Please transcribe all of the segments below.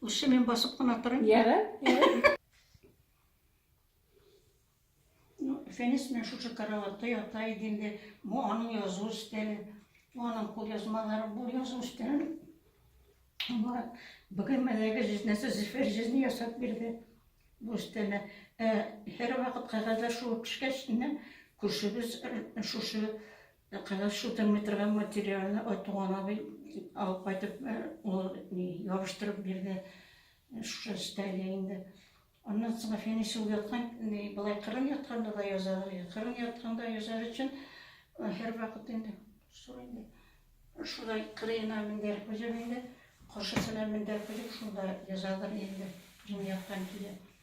Ушы мен басып кына торам. Яра, яра. Ну, фәнис мен шушы караватта ята идем дә, бу аның язу өстәле, бу аның кул язмалары, бу язу өстәле. Аңа бүген мәләге җизнәсе зифер җизни ясап бирде. Бу өстәле. Һәр вакыт кәгазьләр шуып пешкәч, күршебез шушы Ә кәләш утырмый торган материалны Айтуган абый алып кайтып, ул ябыштырып бирде. Шушы өстәлгә инде. Аннан соң Фәнис ул яткан, болай кырын ятканда да язар, кырын ятканда язар өчен һәр вакыт инде шул инде. Шулай кырыена мендәр күзем инде, каршысына мендәр күзем, шунда язадыр инде, кырын яткан килә.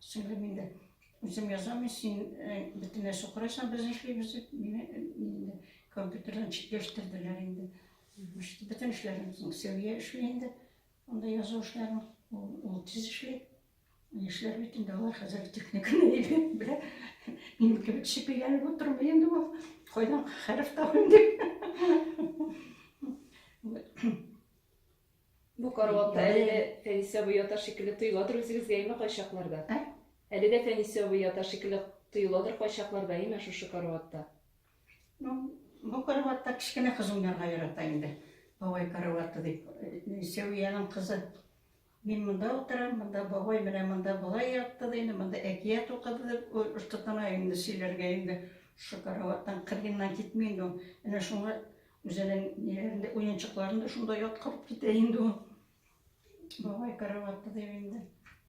Сөйлим инде. Үзем язам, мин син бөтен нәрсә карайсың, без эшлибез дип, мине инде компьютердан читләштерделәр инде. Бөтен эшләрен Сәвия эшли инде. Анда язу эшләрен ул тиз эшли. Яшьләр бит инде алар хәзер техниканы әйбәт белә. Мин кебек шипегәнеп утырмый инде ул. Кайдан хәреф табыйм дип. Бу караватта әле дә Фәнисә абый ята шикелле тоеладыр үзегезгә, әйме, кайчакларда? Ә? Әле дә Фәнисә абый ята шикелле тоеладыр кайчакларда, әйме, шушы караватта? Ну, бу караватта кечкенә кызым янга ярата инде. Бабай караваты дип. Э, Сәвиянең кызы. Мин монда утырам, монда бабай менә монда болай ятты ди, инде монда әкият укыды дип ой, ышкытына инде сөйләргә инде. Шушы караваттан кырыеннан китми инде ул. Әнә шуңа Үзенең ниләрен дә, уенчыкларын да шунда яткырып китә инде ул. Бабай караватта дип инде.